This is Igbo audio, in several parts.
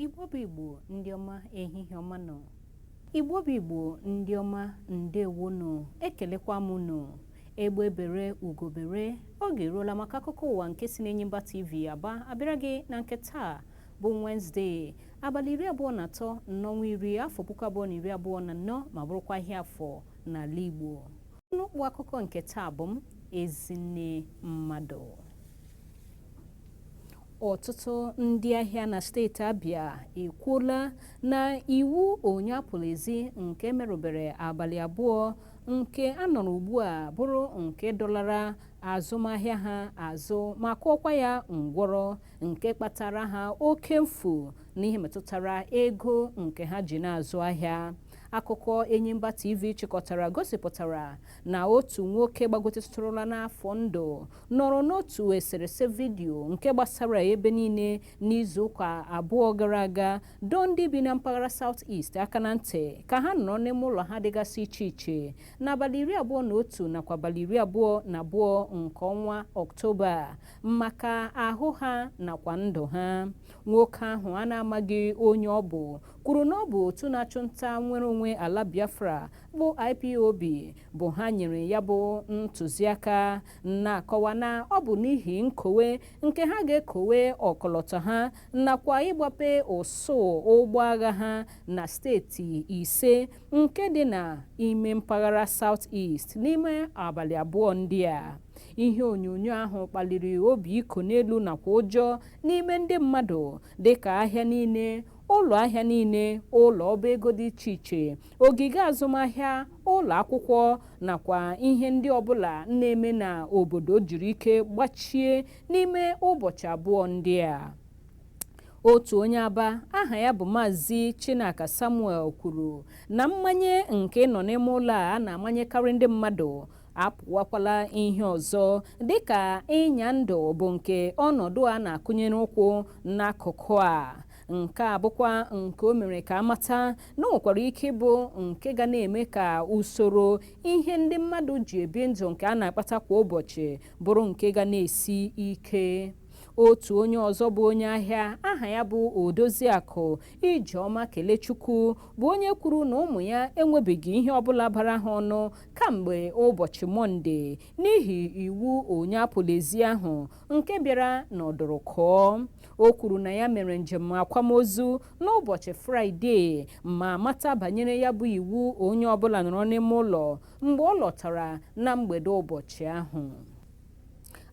igbo bụ igbo ndị ọma ehihie ọma nụ igbo bụ igbo ndị ọma ndewo nụ ekelekwa m unu egbe bere ugo bere oge eruola maka akụkọ ụwa nke si n'enyimba tv aba abịara gị na nke taa bụ Wenezdee abalị iri abụọ na atọ n'ọnwa iri afọ puku abụọ na iri abụọ na anọ ma bụrụkwa ahịa afọ n'ala Igbo n'ụkpụ akụkọ nke taa bụ m Ezinne Mmadụ ọtụtụ ndị ahịa na steeti Abia ekwuola na iwu onye apụla ezi nke merụbere abalị abụọ nke a nọrọ ugbu a bụrụ nke dọlara azụmahịa ha azụ ma kụọkwa ya ngwọrọ nke kpatara ha oke mfu n'ihe metụtara ego nke ha ji na-azụ ahịa akụkọ enyimba tv chịkọtara gosipụtara na otu nwoke gbagotetụrụla n'afọ ndụ nọrọ n'otu eserese vidiyo nke gbasara ebe niile n'izuụka abụọ gara aga dọọ ndị bi na mpaghara South East aka na ntị ka ha nọrọ n'ime ụlọ ha dịgasị iche iche n'abalị iri abụọ na otu nakwa abalị iri abụọ na abụọ nke ọnwa ọktoba maka ahụ ha nakwa ndụ ha nwoke ahụ a na-amaghị onye ọ bụ kwuru na ọ bụ otu na-achụ nta nnwere onwe ala biafra bụ ipob bụ ha nyere ya bụ ntụziaka na-akọwa na ọ bụ n'ihi nkowe nke ha ga-ekowe ọkọlọtọ ha nakwa ịgbape ụsụụ ụgbọ agha ha na steeti ise nke dị na ime mpaghara South East n'ime abalị abụọ ndị a ihe onyonyo ahụ kpaliri obi iko n'elu nakwa ụjọ n'ime ndị mmadụ dịka ahịa niile ụlọ ahịa niile ụlọ ọba ego dị iche iche ogige azụmahịa ụlọ akwụkwọ nakwa ihe ndị ọbụla na-eme na obodo jiri ike gbachie n'ime ụbọchị abụọ ndị a Otu onye Aba aha ya bụ Maazị Chinaka Samuel kwuru na mmanye nke ịnọ n'ime ụlọ a a na-amanyekarị ndị mmadụ apụwakwala ihe ọzọ dịka ịnya ndụ bụ nke ọnọdụ a na-akụnyere ụkwụ n'akụkụ a nke a bụkwa nke o mere ka a mata na o nwekwara ike ịbụ nke ga na-eme ka usoro ihe ndị mmadụ ji ebi ndụ nke a na-akpata kwa ụbọchị bụrụ nke ga na-esi ike otu onye ọzọ bụ onye ahịa aha ya bụ odoziakụ ijeọma kelechukwu bụ onye kwuru na ụmụ ya enwebeghị ihe ọbụla bara ha ọnụ kamgbe ụbọchị mọnde n'ihi iwu onye apụla ezi ahụ nke bịara n'ọdụrụkụọ o kwuru na ya mere njem akwamozu n'ụbọchị fraịde ma mata banyere ya bụ iwu onye ọbụla nọrọ n'ime ụlọ mgbe ọ lọtara na mgbede ụbọchị ahụ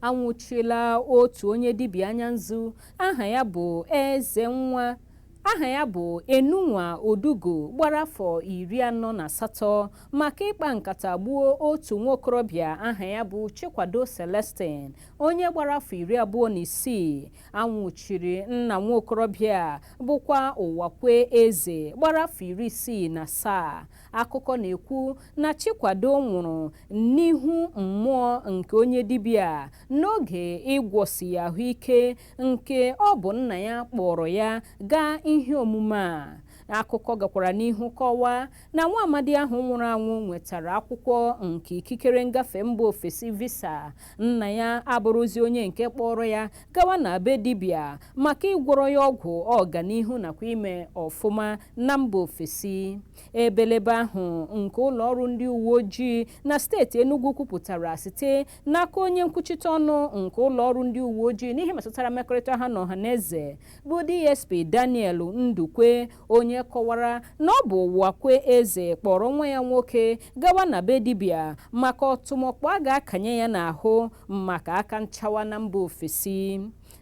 anwụchiela otu onye dibịa anya nzu aha ya bụ eze nwa aha ya bụ enunwa odugo gbara afọ iri anọ na asatọ maka ịkpa nkata gbuo otu nwa okorobịa aha ya bụ chikwado celestine onye gbara afọ iri abụọ na isii anwụchiri nna nwa okorobịa bụkwa ụwakwe eze gbara afọ iri isii na asaa Akụkọ na-ekwu na Chikwado nwụrụ n'ihu mmụọ nke onye dibịa n'oge ịgwọsi ya ahụ ike nke ọ bụ nna ya kpọrọ ya gaa ihe omume a. Akụkọ gakwara n'ihu kọwaa na nwa amadi ahụ nwụrụ anwụ nwetara akwụkwọ nke ikikere ngafe mba ofesi visa, nna ya abụrụzi onye nke kpọrọ ya gawa na be dibịa maka ịgwọrọ ya ọgwụ ọganihu nakwa ime ọfụma na mba ofesi. ebelebe ahụ nke ụlọ ọrụ ndị uwe ojii na steeti Enugu kwupụtara site n'aka onye nkwuchite ọnụ nke ụlọ ọrụ ndị uwe ojii n'ihe metụtara mmekọrịta ha na ọha na eze bụ DSP Daniel Ndukwe onye kọwara na ọ bụ Ụwakwe Eze kpọrọ nwa ya nwoke gawa na be dibịa maka ọtụmọkpọ a ga-akanye ya n'ahụ maka aka nchawa na mba ofesi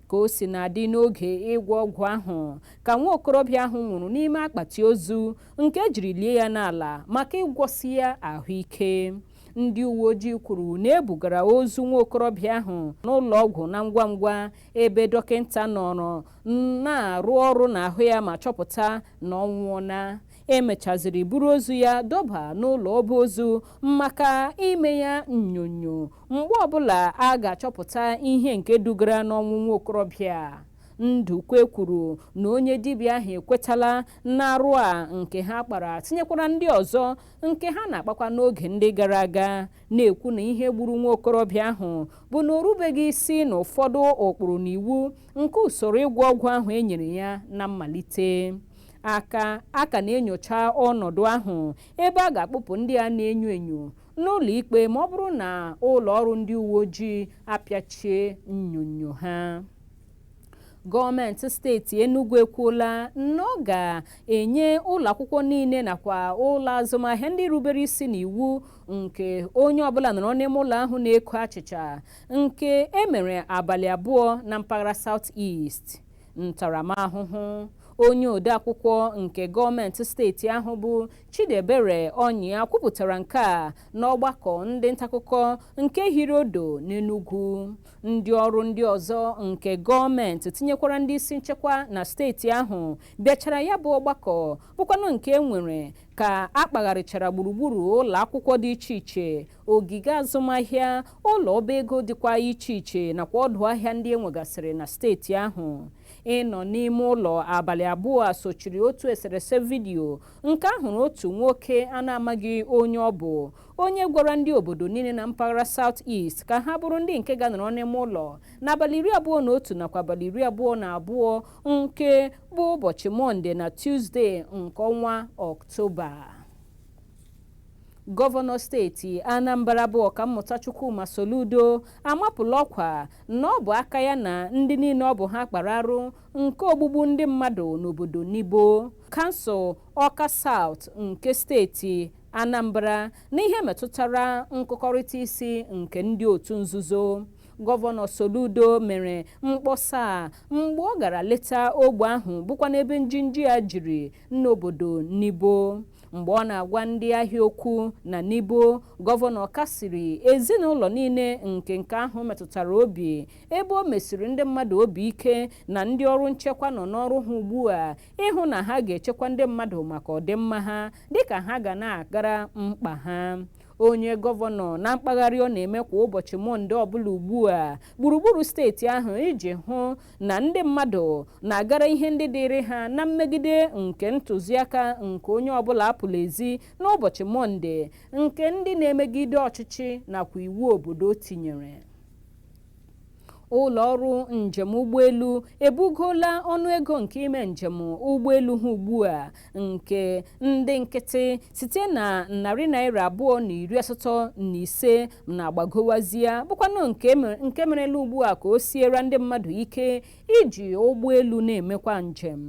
Ka o sina dị n'oge ịgwọ ọgwụ ahụ ka nwa okorobịa ahụ nwụrụ n'ime akpati ozu nke e jiri lie ya n'ala maka ịgwọsi ya ahụ ike. Ndị uwe ojii kwuru na e bugara ozu nwa okorobịa ahụ n'ụlọ ọgwụ na ngwa ngwa ebe dọkịta nọrọ na-arụ ọrụ n'ahụ ya ma chọpụta na ọ nwụọla. E mechaziri buru ozu ya dọba n'ụlọ ọba ozu maka ime ya nnyonyo mgbe ọbụla a ga-achọpụta ihe nke dugara n'ọnwụ nwa okorobịa a. Ndukwe kwuru na onye dibịa ahụ ekwetala n'arụ a nke ha kpara tinyekwara ndị ọzọ nke ha na-akpakwa n'oge ndị gara aga na-ekwu na ihe gburu nwa okorobịa ahụ bụ na o rubeghị isi n'ụfọdụ ụkpụrụ na iwu nke usoro ịgwọ ọgwụ ahụ e nyere ya na mmalite a ka a ka na-enyocha ọnọdụ ahụ ebe a ga-akpụpụ ndị a na-enyo enyo n'ụlọikpe ma ọ bụrụ na ụlọ ọrụ ndị uwe ojii apịachie nnyonyo ha gọọmenti steeti Enugu ekwuola na ọ ga-enye ụlọ akwụkwọ niile nakwa ụlọ azụmahịa ndị rubere isi n'iwu nke onye ọbụla nọrọ n'ime ụlọ ahụ na-eko achịcha nke e mere abalị abụọ na mpaghara South East ntaramahụhụ onye odeakwụkwọ nke gọọmenti steeti ahụ bụ Chidiebere Ọnyịa kwupụtara nke a n'ọgbakọ ndị ntaakụkọ nke hiri odo n'Enugwu ndị ọrụ ndị ọzọ nke gọọmenti tinyekwara ndị isi nchekwa na steeti ahụ bịachara ya bụ ọgbakọ bụkwanụ nke e nwere ka a kpagharịchara gburugburu ụlọ akwụkwọ dị iche iche ogige azụmahịa ụlọ ọba ego dịkwa iche iche nakwa ọdụ ahịa ndị e nwegasịrị na steeti ahụ ịnọ n'ime ụlọ abalị abụọ a sochiri otu eserese vidiyo nke a hụrụ otu nwoke a na-amaghị onye ọ bụ onye gwara ndị obodo niile na mpaghara South East ka ha bụrụ ndị nke ga-anọrọ n'ime ụlọ n'abalị iri abụọ na otu nakwa abalị iri abụọ na abụọ nke bụ ụbọchị Mọnde na Tuzdee nke ọnwa Ọktoba Gọvanọ steeti Anambra bụ Ọkammụta Chukwuma Soludo amapụla ọkwa na ọ bụ aka ya na ndị niile ọ bụ ha kpara arụ nke ogbugbu ndị mmadụ n'obodo Nibo, kansụl Ọka Saụt nke steeti Anambra n'ihe metụtara nkụkọrịta isi nke ndị otu nzuzo. Gọvanọ Soludo mere mkpọsa a mgbe ọ gara leta ogbe ahụ bụkwanụ ebe njinji a jiri n'obodo Nibo mgbe ọ na-agwa ndị ahịa okwu na Nibo gọvanọ kasiri ezinụlọ niile nke nke ahụ metụtara obi ebe o mesiri ndị mmadụ obi ike na ndị ọrụ nchekwa nọ n'ọrụ ha ugbu a ịhụ na ha ga-echekwa ndị mmadụ maka ọdịmma ha dịka ha ga na-agara mkpa ha onye gọvanọ na mkpagharị ọ na-eme kwa ụbọchị Mọnde ọbụla ugbu a gburugburu steeti ahụ iji hụ na ndị mmadụ na-agara ihe ndị dịịrị ha na mmegide nke ntụziaka nke onye ọbụla apụla ezi n'ụbọchị Mọnde nke ndị na-emegide ọchịchị nakwa iwu obodo tinyere ụlọ ọrụ njem ụgbọelu ebugola ọnụego nke ime njem ụgbọelu ha ugbu a nke ndị nkịtị site na narị naira abụọ na iri asatọ na ise na-agbagowazie bụkwanụ nke merela ugbu a ka o siera ndị mmadụ ike iji ụgbọelu na-emekwa njem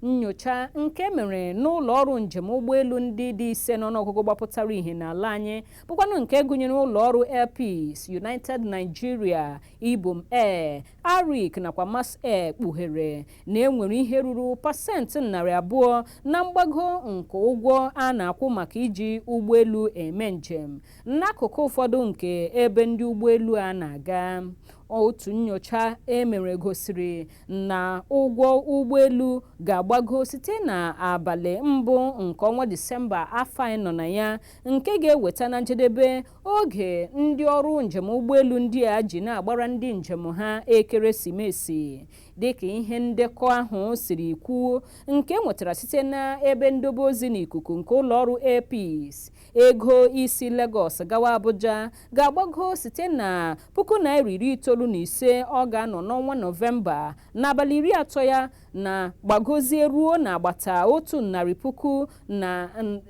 nyocha nke e mere n'ụlọ ọrụ njem ụgbọelu ndị dị ise n'ọnụọgụgụ gbapụtara ihe n'ala anyị bụkwanụ nke gụnyere ụlọ ọrụ Air Peace, United Nigeria, Ibom Air Arik nakwa Max Air kpughere na e nwere ihe ruru pasentị narị abụọ na mgbago nke ụgwọ a na-akwụ maka iji ụgbọelu eme njem n'akụkụ ụfọdụ nke ebe ndị ụgbọelu a na-aga. Otu nnyocha e mere gosiri na ụgwọ ụgbọelu ga-agbago site n'abalị mbụ nke ọnwa Disemba afọ anyị nọ na ya nke ga-eweta na njedebe Oge ndị ọrụ njem ụgbọelu ndị a ji na-agbara ndị njem ha ekeresimesi dịka ihe ndekọ ahụ siri kwuo nke e nwetara site n'ebe ndobe ozi n'ikuku nke ụlọọrụ Air Peace ego isi Lagos gawa Abuja ga-agbago site na puku naira iri itoolu na ise ọ ga-anọ n'ọnwa Nọvemba n'abalị iri atọ ya na gbagozie ruo n'agbata otu narị puku na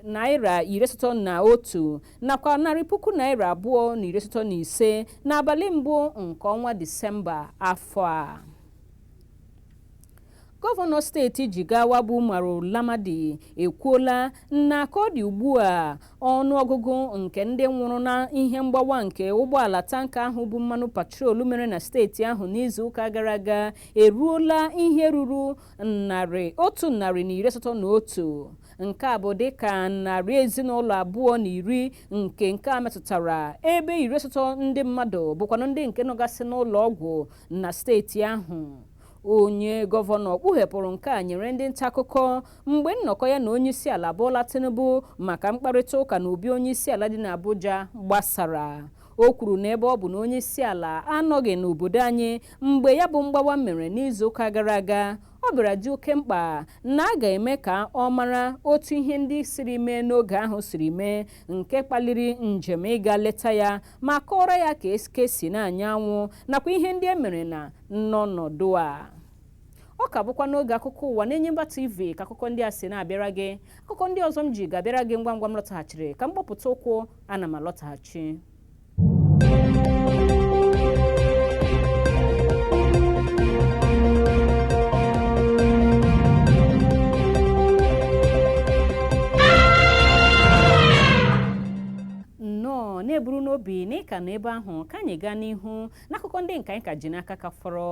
naira iri asatọ na otu nakwa narị puku naira abụọ na iri asatọ na ise n'abalị mbụ nke ọnwa disemba afọ a gọvanọ steeti jigawa bụ umaru namadi ekwuola na ka ọ dị ugbu a ọnụọgụgụ nke ndị nwụrụ na ihe mgbawa nke ụgbọala tanka ahụ bu mmanụ petrol mere na steeti ahụ n'izuụka gara aga eruola ihe ruru narị otu narị na iri asatọ na otu nke a bụ dịka narị ezinụlọ abụọ na iri nke nke a metụtara ebe iri asatọ ndị mmadụ bụkwanụ ndị nke nọgasị n'ụlọ ọgwụ na steeti ahụ onye gọvanọ kpughepụrụ nke a nyere ndị nta akụkọ mgbe nnọkọ ya na onye isi ala Bola Tinubu maka mkparịta ụka na obi onye isi ala dị n'Abuja gbasara o kwuru na ebe ọ bụ na onye isi ala anọghị n'obodo anyị mgbe ya bụ mgbawa mere n'izu ụka gara aga ọ bịara dị oke mkpa na a ga-eme ka ọ mara otu ihe ndị siri mee n'oge ahụ siri mee nke kpaliri njem ịga leta ya ma kọọrọ ya ka eke si na-anya anwụ nakwa ihe ndị e mere na n'ọnọdụ a ọ ka bụkwa n'oge akụkọ ụwa n'enyimba tv ka akụkọ ndị a si na-abịara gị akụkọ ndị ọzọ m ji ga-abịara gị ngwa ngwa m lọtaghachiri ka m gbapụta ụkwụ ana m alọtaghachi na-eburu n'obi na ị ka nọ ebe ahụ ka anyị gaa n'ihu n'akụkọ ndị nke anyị ka ji n'aka ka fọrọ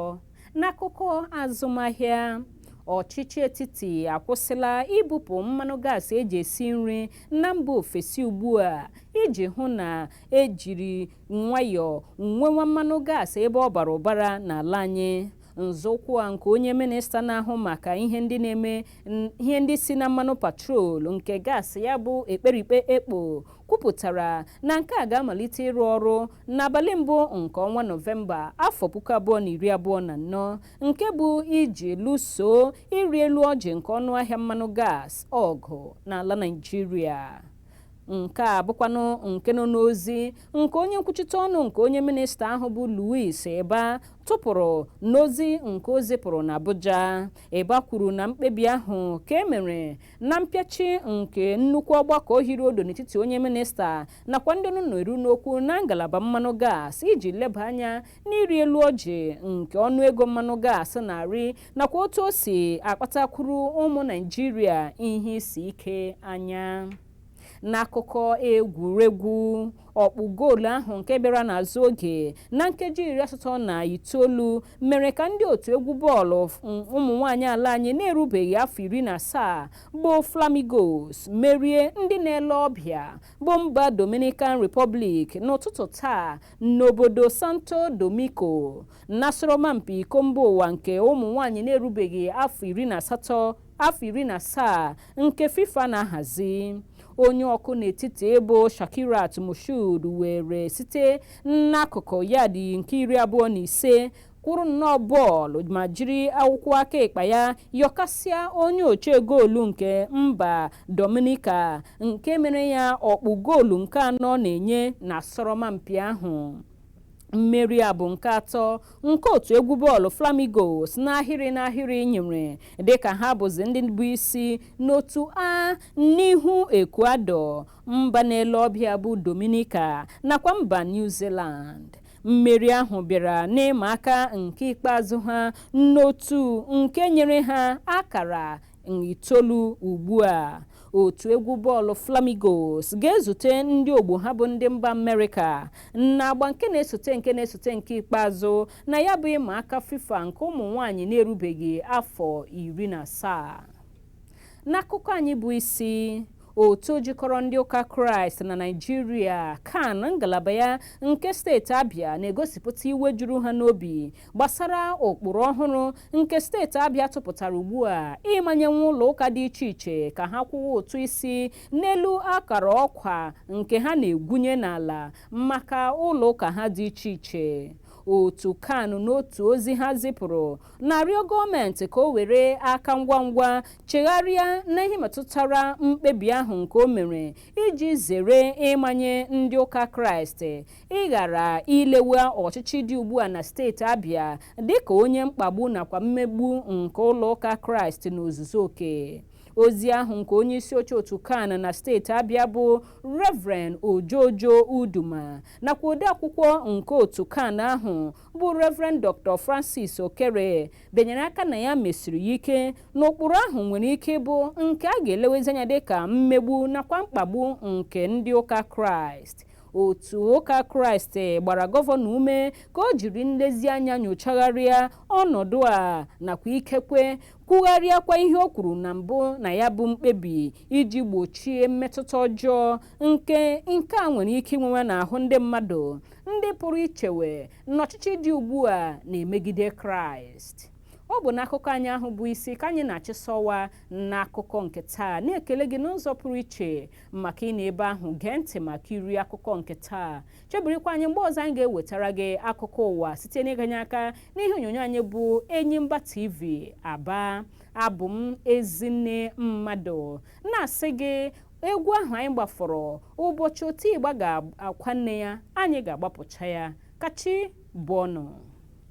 n'akụkọ azụmahịa ọchịchị etiti akwụsịla ibupụ mmanụ gaasị e ji esi nri na mba ofesi ugbu a iji hụ na ejiri nwayọọ nwewa mmanụ gaasị ebe ọ bara ụbara n'ala anyị nzọụkwụ a nke onye minista na-ahụ maka ihe ndị na-eme ihe ndị si na mmanụ petrol nke gaasị ya bụ ekperikpe ekpo kwupụtara na nke a ga-amalite ịrụ ọrụ n'abalị mbụ nke ọnwa nọvemba afọ puku abụọ na iri abụọ na anọ nke bụ iji lụsoo ịrị elu ọjị nke ọnụahịa mmanụ gas ọgụ n'ala Naịjirịa nke a bụkwanụ nke nọ n'ozi nke onye nkwuchite ọnụ nke onye minista ahụ bụ Louis Ibah tụpụrụ n'ozi nke o zipụrụ n'Abuja Ibah kwuru na mkpebi ahụ ka e mere na mpịachi nke nnukwu ọgbakọ hiri odo n'etiti onye minista nakwa ndị ọnụ na-eru n'okwu na ngalaba mmanụ gas iji leba anya n'ịrị elu ọjị nke ọnụego mmanụ gas na-arị nakwa otu o si akpatakwuru ụmụ naijiria ihe isi ike anya n'akụkọ egwuregwu ọkpụ goolu ahụ nke bịara n'azụ oge na nkeji iri asatọ na itoolu mere ka ndị otu egwu bọọlụ ụmụ nwaanyị ala anyị na-erubeghị afọ iri na asaa bụ flamingos merie ndị na-ele ọbịa bụ mba dominican republic n'ụtụtụ taa N'obodo Santo Domingo, n'asọrọmpi iko mba ụwa nke ụmụ nwaanyị na-erubeghị afọ iri na asatọ afọ iri na asaa nke FIFA na-ahazi onye ọkụ n'etiti bụ Shakirat Moshood were site n'akụkụ yadị nke iri abụọ na ise kụrụ nnọọ bọọlụ ma jiri akụkụ aka ịkpa ya yọkasịa onye oche goolu nke mba Dominica nke mere ya ọkpụ goolu nke anọ ọ na-enye n'asọrọmpi ahụ mmeri a bụ nke atọ nke otu egwu bọọlụ Flamingos n'ahịrị n'ahịrị nyere dịka ha bụzi ndị bụ isi n'otu A n'ihu Ecuador mba na-ele ọbịa bụ Dominica nakwa mba New Zealand mmeri ahụ bịara n'ịma aka nke ikpeazụ ha n'otu nke nyere ha akara itoolu ugbu a otu egwu bọọlụ flamingos ga-ezute ndị ogbo ha bụ ndị mba amerịka n'agba nke na-esote nke na-esote nke ikpeazụ na ya bụ ịma aka fifa nke ụmụ nwanyị na-erubeghị afọ iri na asaa n'akụkọ anyị bụ isi otu jikọrọ ndị ụka kraịst na naijiria can ngalaba ya nke steeti abịa na-egosipụta iwe juru ha n'obi gbasara ụkpụrụ ọhụrụ nke steeti abịa tụpụtara ugbu a ịmanyewe ụlọ ụka dị iche iche ka ha kwụwa ụtụ isi n'elu akara ọkwa nke ha na-egwunye n'ala maka ụlọ ụka ha dị iche iche otu can n'otu ozi ha zipụrụ na-arịọ gọọmenti ka o were aka ngwa ngwa chegharịa n'ihe metụtara mkpebi ahụ nke o mere iji zere ịmanye ndị ụka kraịst ịghara ilewe ọchịchị dị ugbu a na steeti abịa dịka onye mkpagbu nakwa mmegbu nke ụlọ ụka kraịst n'ozuzu oke ozi ahụ nke onye isi oche otu CAN na steeti abịa bụ reverend ojo ojo uduma nakwa odeakwụkwọ nke otu CAN ahụ bụ Reverend Dr. Francis Okere benyere aka na ya mesiri ya ike na ụkpụrụ ahụ nwere ike ịbụ nke a ga-elewezi anya dịka mmegbu nakwa mkpagbu nke ndị ụka Kraịst otu ụka kraịst gbara gọvanọ ume ka o jiri nlezianya nyochagharịa ọnọdụ a nakwa ikekwe kwugharịakwa ihe o kwuru na mbụ na ya bụ mkpebi iji gbochie mmetụta ọjọọ nke nke a nwere ike inwewe n'ahụ ndị mmadụ ndị pụrụ ichewe na ọchịchị dị ugbu a na-emegide kraịst ọ bụ n'akụkọ anyị ahụ bụ isi ka anyị na-achịsọwa n'akụkọ nke taa na-ekele gị n'ụzọ pụrụ iche maka ịnọ ebe ahụ gee ntị maka iri akụkọ nke taa chebirikwa anyị mgbe ọzọ anyị ga-ewetara gị akụkọ ụwa site n'ịganye aka n'ihe onyonyo anyị bụ enyimba tv aba abụ m ezinne mmadụ na-asị gị egwu ahụ anyị gbafọrọ ụbọchị oti ịgba ga-akwa nne ya anyị ga-agbapụcha ya ka chi bọọ nụ